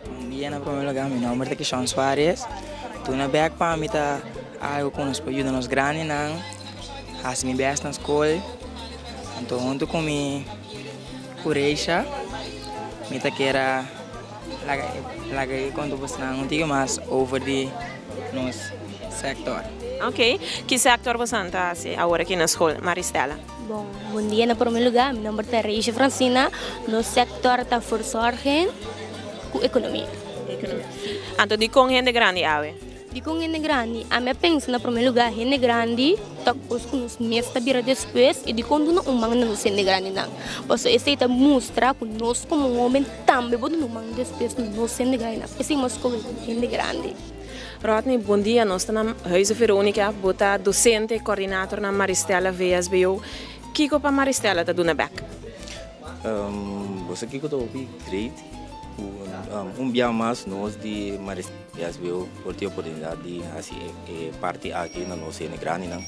Bon dia na prome lugar mi nomber ta Kishon Suarez tuna bek pami ta algo ku nos por yuda nos grandi nan hasi mi bes na skol anto huntu ku mi ku Reisha mi ta kera laga laga e konto por snan un tike mas over di nos sector. Ok ki sector bosan ta hasi awor aki na skol Maristela? Bon bon dia na prome luga mi nomber ta Reisha Francina nos sector ta verzorgen cu economi. Anto dicon hende grandi awe? Dicon hende grandi ami a pensa na prome luga hende grandi ta cos cu nos mes ta bira despues y dicon duna un man na nos hende grandi nan paso esey ta mustra cu nos como hoben tambe bo duna un man despues na nos hende grandi nan esey mas scoge hende grandi. Rodney, Bon dia, nos ta na Huize Veronica, bo ta docente y coordinator na Maristella VSBO. Kico pa Maristella ta duna bek? Umm, bo sa kico ta hopi great cu un bia mas nos di Maristella VSBO por tin e oportunidad di haci e parti aki na nos hende grandinan.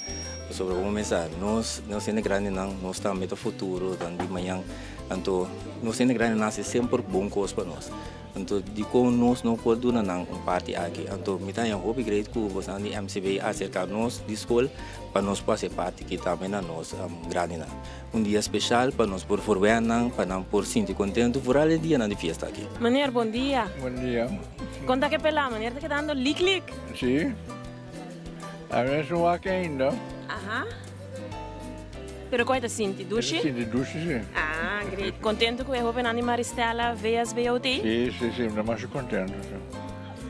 Pasobra como men sa, nos, nos hende grandinan, nos ta meta futuro, tan di mañan, anto nos hende grandinan haci semper bon cos pa nos. Anto dikon nos no por duna nan un parti aki? Anto mi ta haña hopi great ku bosnan di MCB aserka nos di skol pa nos por hasi parti ki tambe na nos grandinan. Un dia speshal pa nos por forwea nan pa nan por sinti kontentu foral e dianan di fiesta aki. Meneer, bon dia. Bon dia. Kon ta ke pela? Meneer ta kedando lik lik. Si. Aves no wak ainda. Aha. Pero con e ta sinti? Dushi? E ta sinti dushi si. Ah, great. Contento cu e hobennan di Maristella, VSBOT? Si, si, si. Mi ta masha contento, si.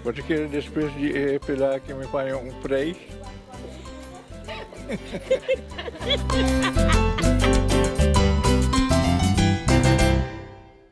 Bo ta kere despues di e pela aki mi paña un prijs?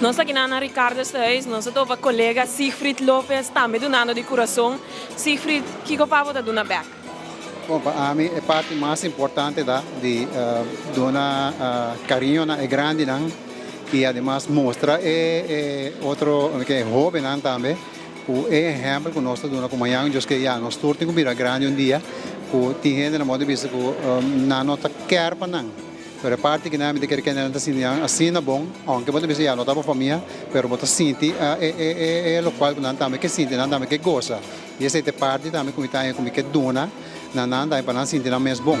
Nos ta kina na Ricardo su huis, nos a topa colega Siegfried Lopez tambe dunando di curason. Siegfried, kico pa bo ta duna bek? Bon, pa ami e parti mas importante ta di duna cariño na e grandinan y ademas mustra e otro hobennan tambe cu e ehempel cu nos ta duna cu mañana Dios kier ya nos tur tin cu bira grandi un dia cu tin hende nan mor ta bisa cu nan no ta kier pa nan. Pero e parti ki nami ta kere kende nan ta sinti nan asina bon, aunke bo ta bisa ya no ta bo famia, pero bo ta sinti e lokual ku nan tambe ke sinti, nan tambe ke gosa. I esei ta e parti tambe ku mi ta haña ku mi ke duna na nan tambe pa nan sinti nan mes bon.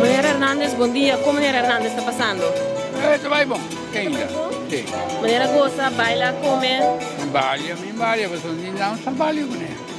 Meneer Hernandez bon dia con meneer Hernandez ta pasando? Eh ta bay bon ken ya si. Meneer a gosa baila come? Balia mi balia pasobra mi nan sa balia cu ne.